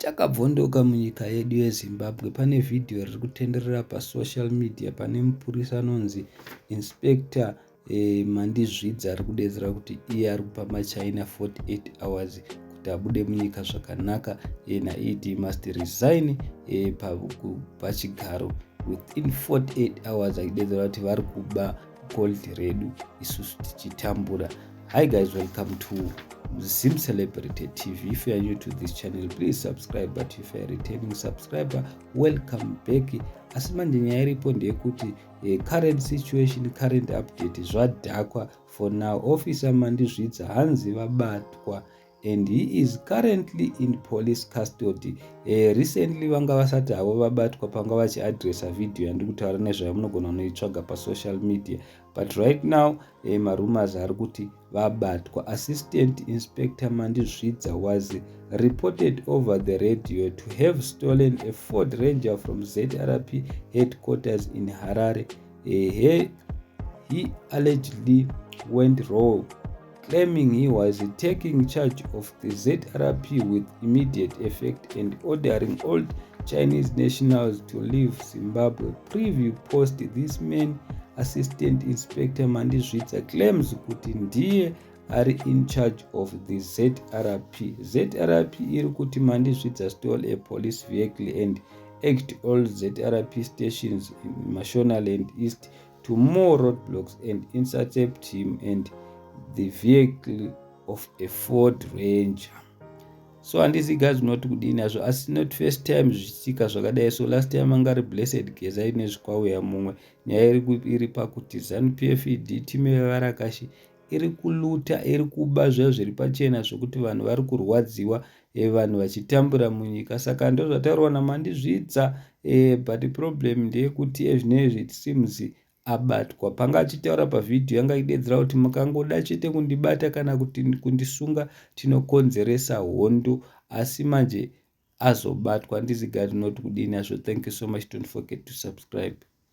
Takabvondoka munyika yedu yeZimbabwe pane vhidhiyo riri kutenderera pasocial media pane mupurisa anonzi Inspector Mandizvidza ari kudedzera kuti iye ari kupa maChina 48 hours kuti abude munyika zvakanaka ena it must resign pachigaro within 48 hours achidedzera kuti vari kuba gold redu isusu tichitambura hi guys welcome to zim celebrity tv if you are new to this channel please subscribe but if youare returning subscriber welcome back asi manje nyaya iripo ndeyekuti eh, current situation current update zvadhakwa for now officer mandizvidza hanzi vabatwa and he is currently in police custody eh, recently vanga vasati havo vabatwa panga vachiadressa video yandiri kutaura nezvayo munogona kunoitsvaga pasocial media but right now eh, marumors ari kuti vabatwa assistant inspector mandizvidza was reported over the radio to have stolen a ford ranger from zrp headquarters in harare eh, he, he allegedly went rogue claiming he was taking charge of the zrp with immediate effect and ordering all chinese nationals to leave zimbabwe preview post this man assistant inspector mandizvidza claims kuti ndiye ari in charge of the zrp zrp iri kuti mandizvidza stole a police vehicle and act all zrp stations in mashonaland east to more roadblocks and intercept him and the vehicle of a ford ranger so handisi guys unoti kudini hazvo asi not first time zvichitika zvakadai so last time anga ari blessed geza ine zvikwauya mumwe nyaya iri iri pakuti zanupf ed time yevarakashi iri kuluta iri kuba zvayo zviri pachena zvekuti vanhu vari kurwadziwa e, vanhu vachitambura munyika saka ndozvataurwa namandizvidza e, but problem ndeyekuti ezvinezvi it seems abatwa panga achitaura pavhidhiyo yanga idedzera kuti mukangoda chete kundibata kana kuti kundisunga tinokonzeresa hondo asi manje azobatwa ndizigari not kudini azvo thank you so much don't forget to subscribe